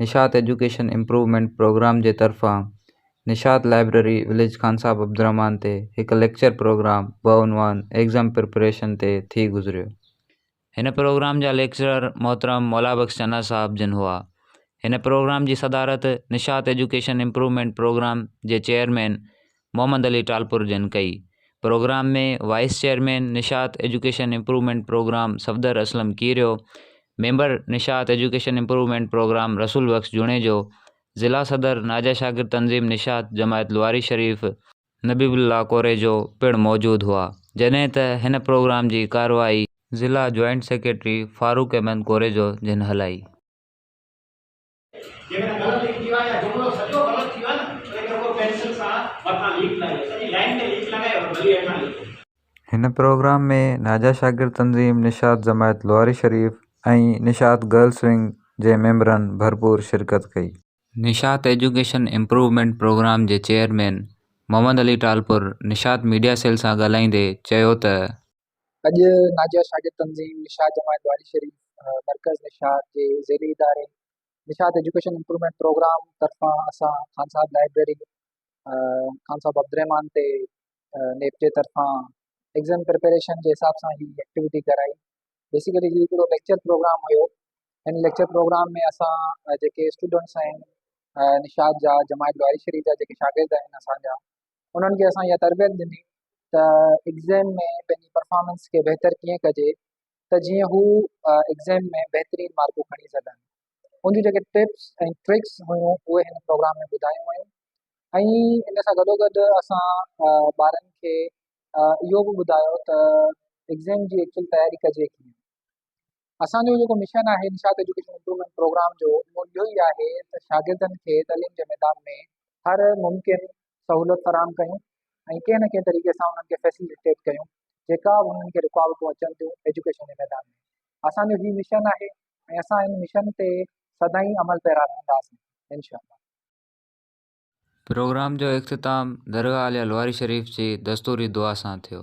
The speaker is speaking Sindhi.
نشاط ايجوڪيشن امپروومينٽ پروگرام جي طرفان نشاط لائبريري وليج خان صاحب عبدالرحمان تي هڪ ليڪچر پروگرام بعنوان ايگزام پريپريشن تي ٿي گذريو. هن پروگرام جا ليڪچرر محترم مولا بخش چنا صاحب جن هئا. هن پروگرام جي صدارت نشاط ايجوڪيشن امپروومينٽ پروگرام جي چيئرمين محمد علي ٽالپر جن ڪئي. Programme ۾ vice chairman Nishat education improvement programme Safdar Aslam Kerio, member Nishat education improvement programme Rasool Bakhsh Junejo, ضلع صدر ناجا شاگرد تنظيم نشاط جماعت لواري شريف، نبي الله ڪوريجو پڻ موجود هئا جڏهن ته هن پروگرام جي ڪارروائي ضلع جوائنٽ سيڪريٽري فاروق احمد ڪوريجو جن هلائي. جيڪڏهن غلط لکي ڏيو ها يا جملو سڄو غلط ٿي ويو ها نه تڏهن رڳو پينسل سان مٿان ليڪ لائي سڄي لائين تي ليڪ لڳائي ۽ ڀلي هيٺان لکو. هن پروگرام ۾ ناجا شاگرد تنظيم نشاط جماعت لواري شريف ۽ نشاط گرلس ونگ جي ميمبرن ڀرپور شرڪت ڪئي. نشاط ايجوڪيشن امپروومينٽ پروگرام جي chairman Muhammad Ali Talpur Nishat media cell سان ڳالهائيندي چيو ته اڄ ناجيا شاگرد تنظيم نشاط جماعت واري شريف مرڪز نشاط جي ذيلي اداري نشاط ايجوڪيشن امپرومينٽ پروگرام طرفان اسان خان صاحب لائبريري خان صاحب عبدالرحمان تي نيپ جي طرفان ایگزام پريپريشن جي حساب سان هي ايڪٽيويٽي ڪرائي بيسيڪلي هي هڪڙو ليڪچر پروگرام هيو هن ليڪچر پروگرام ۾ اسان جيڪي اسٽوڊنٽس آهن نشاد جا جماعت واري شريف جا جيڪي شاگرد آهن اسان جا انهن کي اسان اها تربيت ڏني ته ايگزام ۾ پنهنجي پرفارمنس کي بهتر ڪيئن ڪجي ته جيئن هو ايگزام ۾ بهترين مارڪون کڻي سگهن ان جون جيڪي ٽپس ۽ ٽرڪس هيون اهي هن پروگرام ۾ ٻڌايون ويون ۽ ان سان گڏوگڏ اسان ٻارن کي اهو به ٻڌايو ته ايگزام جي ايڪچوئل تياري ڪجي ڪيئن اسان جو جيڪو مشن آهي نشاط ايجوڪيشن امپروومينٽ پروگرام جو اهو اهو ئي آهي ته شاگردن کي تعليم جي ميدان ۾ هر ممڪن سهولت فراهم ڪيون ۽ ڪنهن نه ڪنهن طريقي سان انهن کي فيسليٽيٽ ڪيون جيڪا به انهن کي رڪاوٽون اچن ٿيون ايجوڪيشن جي ميدان ۾ اسان جو هي مشن آهي ۽ اسان ان مشن تي سدائين عمل پيرا رهنداسين انشاء الله پروگرام جو اختتام درگاهه عاليه لواري شريف جي دستوري دعا سان ٿيو.